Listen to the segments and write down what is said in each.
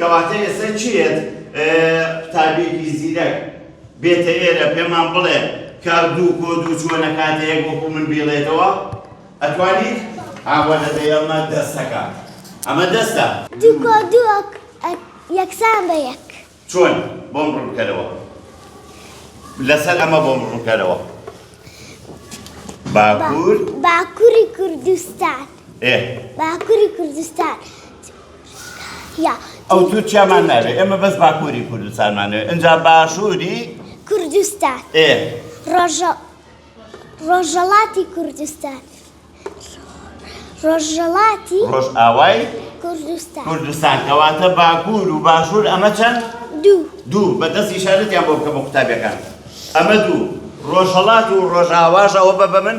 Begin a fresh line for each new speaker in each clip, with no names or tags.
کەواتە ئێستا چ یەت قوتابیەکی زیرەک بێتە ئێرە پێمان بڵێ کە دوو کۆ دوو چۆن ئەکاتە یەک وەکو من بیڵێتەوە؟ ئەتوانیت؟ ئاوا دەبێ ئەمە دەستەکە ئەمە دەستە دوو کۆ دوو
ئەک- ئە- یەکسان بە یەک چۆن
بۆم ڕوونکەرەوە لەسەر ئەمە بۆم ڕوونکەرەوە با-
باکوور باکوری کوردستان ئێ باکوری کوردستان
ئەو تورکیامان ناوێ ئێمە بەس باکووری کوردستانمانەوێ ئەجا باشووری کوردستان
ڕۆژە ڕۆژەڵاتی کوردستان ڕۆژەڵاتی ڕۆژ ئاوای
کوردستان
کوردستان کەواتە
باکوور و باشوور ئەمە چەند دوو دوو بەدەست ئیشارەتیان بۆ بکەمە قوتابیەکان ئەمە دوو ڕۆژەڵات و ڕۆژاواژەوە بە بە من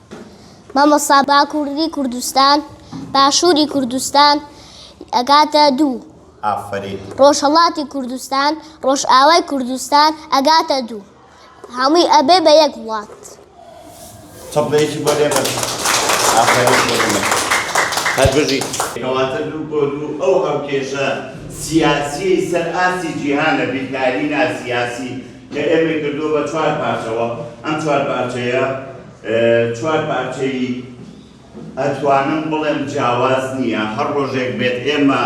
مامۆستا باکووری کوردستان باشووری کوردستان ئەگاتە دوو. ئافەرین.
ڕۆژهەڵاتی
کوردستان ڕۆژئاوای کوردستان ئەگاتە دوو. هەمووی ئەبێ بە یەک وڵات.
تەبلێکی بۆ لێ بەرن. ئافەرین بۆ ئێمە. هەر بژی. کەواتە دوو بۆ دوو ئەو هاوکێشە سیاسییەی سەر ئاستی جیهانە بیرکاری ناسیاسی کە ئێمەی کردووە بە چوار پارچەوە، ئەم چوار پارچەیە چوار پارچەی ئەتوانم بڵێم جیاواز نییە، هەر ڕۆژێک بێت ئێمە،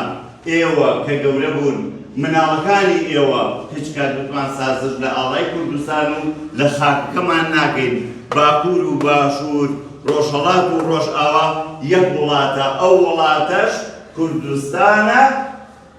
ئێوە کە گەورە بوون، مناڵەکانی ئێوە هیچ کات وتمان سازش لە ئاڵای کوردستان و لە خاکەکەمان ناکەین، باکوور و باشوور، ڕۆژهەڵات و ڕۆژئاوا یەک وڵاتە، ئەو وڵاتەش کوردستانە.